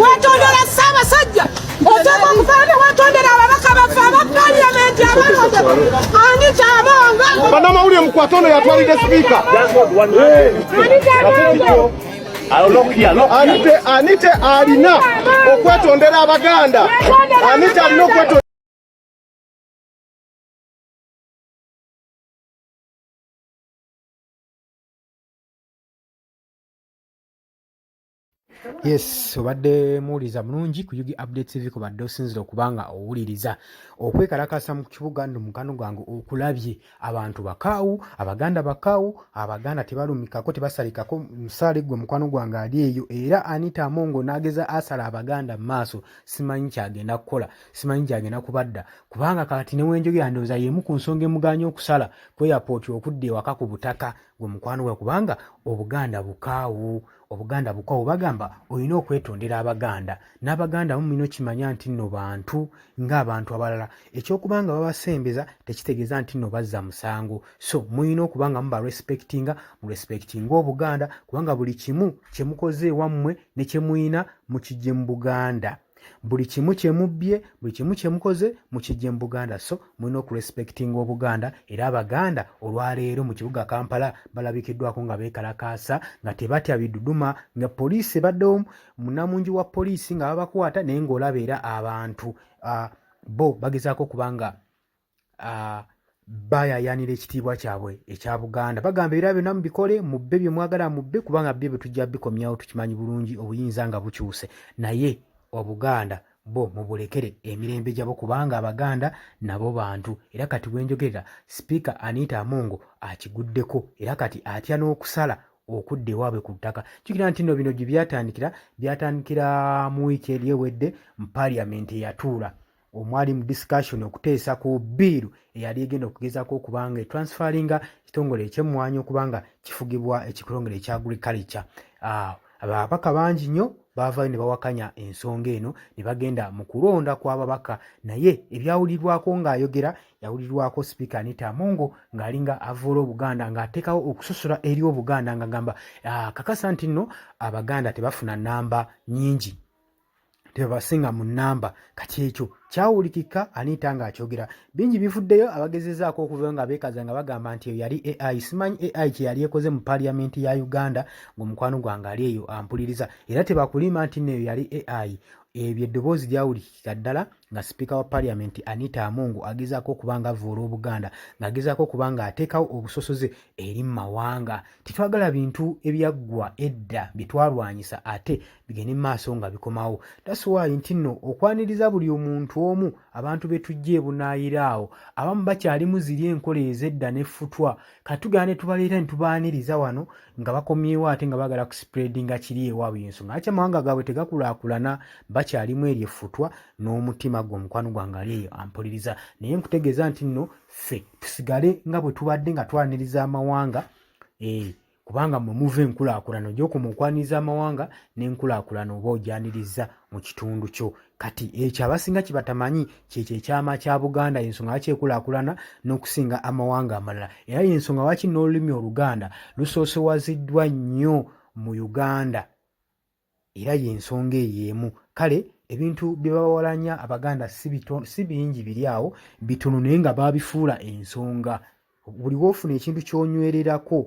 wetondera ssabasajja oteeka okufaana wetondera ababaka baffe aba paliyamenti abalonde ani kyabonga banamawulire mukwata ono yatwalidde sipiika anite anite alina okwetondera abaganda anite alina okwetondera yes obadde muwuliriza mulungi ku ug update tv kubadde osinzira okuba nga owuliriza okwekalakasa mu kibuga no mukano gwange okulabye abantu bakaawu abaganda bakaawu abaganda tebalumikako tebasalikako musaale gwe mukwano gwange ali eyo era anita amongo n'ageza asala abaganda mu maaso simanyi kyagenda kukola simanyi gyagenda kubadda kubanga kati newenjogera ndowooza yemu ku nsonga emuganya okusala kweyapooti okudda ewaka ku butaka gwe mukwano gwa kubanga obuganda bukaawu obuganda bukwawo bagamba olina okwetondera abaganda n'abaganda mu mino kimanya nti nno bantu ng'abantu abalala ekyokuba nga babasembeza tekitegeeza nti nno bazza musango so mulina okuba nga muba respectinga mu respectinga obuganda kubanga buli kimu kye mukoze ewammwe ne kye mulina mukijje mu buganda buli kimu kyemubbye buli kimu kyemukoze mukijje mu buganda so mulina okurespectinga obuganda era abaganda olwaleero mu kibuga kampala balabikiddwako nga beekalakaasa nga tebatya biduduma nga poliisi ebaddewo munamungi wa poliisi nga babakwata naye ngaolaba era abantu bo bagezaako okuba nga uh, bayayanira ekitiibwa kyabwe ekya buganda bagamba era byonna mubikole mubbe bye mwagala mubbe kubanga byo bye tujja bikomyawo tukimanyi bulungi obuyinza nga bukyuse naye obuganda bo mubulekere emirembe gyabo kubanga abaganda nabo bantu era kati wenjogerera sipiika anita amongo akiguddeko era kati atya n'okusala okudda ewaabwe ku ttaka jukira nti no bino gye byatandikira byatandikira mu wiiki eri ewedde mu paliamenti eyatuula omwali mu discussion okuteesa ku biiru eyali egenda okugezaako okubanga etransferinga ekitongole ekyemmwanyi okubanga kifugibwa ekitongole ekya agriculture ah, ababaka bangi nnyo baavayo ne bawakanya ensonga eno ne bagenda mu kulonda kw'ababaka naye ebyawulirwako ng'ayogera yawulirwako sipiika anita amongo ng'alinga avoola obuganda ng'ateekawo okusosola eri obuganda ng'agamba ah, kakasa nti nno abaganda tebafuna nnamba nyingi tebasinga mu namba kati ekyo kyawulikika aniita nga akyogera bingi bivuddeyo abagezezaako okuvayo nga beekaza nga bagamba nti eyo yali ai simanyi ai kyeyali ekoze mu paliyamenti ya uganda ngaomukwano gwange ali eyo ampuliriza era tebakulimba nti neyo yali ai ebyo eddoboozi lyawulikika ddala nga sipiika wa paliyamenti anita amongo agezaako okuba nga avuula obuganda ng'agezaako okuba nga ateekawo obusosoze eri mu mawanga tetwagala bintu ebyaggwa edda bye twalwanyisa ate bigende mu maaso nga bikomawo tasiwaayi nti nno okwaniriza buli omuntu omu abantu be tujja ebunaayira awo abamu bakyalimu ziri enkola ez'edda n'effutwa katugera ne tubaleeta ne tubaaniriza wano nga bakomyewo ate nga baagala kusipuredinga kiri ewaabwe yensonga lwaki amawanga gaabwe tegakulaakulana bakyalimu eryo effutwa n'omutima gwe omukwano gwange ali eyo ampuliriza naye nkutegeeza nti nno ffe tusigale nga bwe tubadde nga twaniriza amawanga ee eh, kubanga mwe muva enkulaakulana ojja okuma okwaniriza amawanga n'enkulaakulana oba ojanirizza mu kitundu kyo kati ekyo abasinga kibatamanyi kyekyo ekyama kya buganda yensonga lwaki ekulaakulana n'okusinga amawanga amalala era yensonga lwaki n'olulimi oluganda lusoosowaziddwa nnyo mu uganda era y'ensonga eyo emu kale ebintu bye bawalanya abaganda si bingi biri awo bitono naye nga baabifuula ensonga buli woofuna ekintu ky'onywererako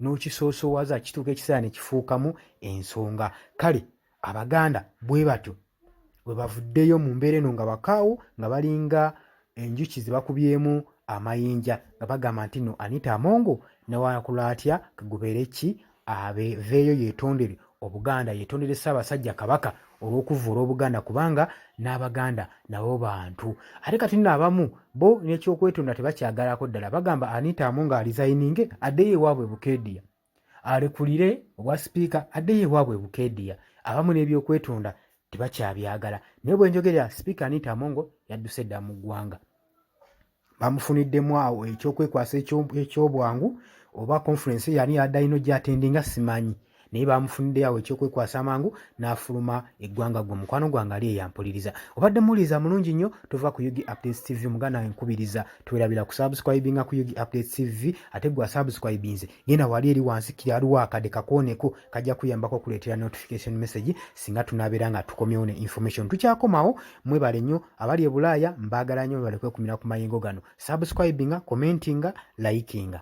n'okisoosowaza kituuka ekiseera ne kifuukamu ensonga kale abaganda bwe batyo we bavuddeyo mu mbeera eno nga bakaawo nga balinga enjuki ze bakubyemu amayinja nga bagamba nti no anita amongo newakula atya kagubeere ki aveeyo yetondere obuganda yetondere ssaabasajja kabaka olw'okuvvula obuganda kubanga n'abaganda nabo bantu ate kati nno abamu bo n'ekyokwetonda tebakyagalako ddala bagamba anita amongo alizayininge addeyo ewaabwe bukeediya alekulire obwa sipiika addeyo ewaabwe bukeediya abamu n'ebyokwetonda tebakyabyagala naye bwenjogera sipiika anita amongo yadduse dda mu ggwanga bamufuniddemu awo ekyokwekwasa ekyobwangu oba conference yani yadayino gyatendinga simanyi naye bamufuniddeyo awo ekyokwekwasa amangu n'afuluma eggwanga gwe mukwano gwange ali eyampuliriza obadde muwuliriza mulungi nnyo tova ku ug updates tv muganda wenkubiriza twerabira kusubscribinga ku Yugi Updates TV ate gwa subscribinze genda wali eri wansi kiri aliwo akade kakooneko kajja kuyambako okuleetera notification message singa tunabeera nga tukomyewo ne information tukyakomawo mwebale nnyo abali e bulaaya mbaagala nnyo mwebale kwekumira ku mayengo gano subscribinga commentinga likinga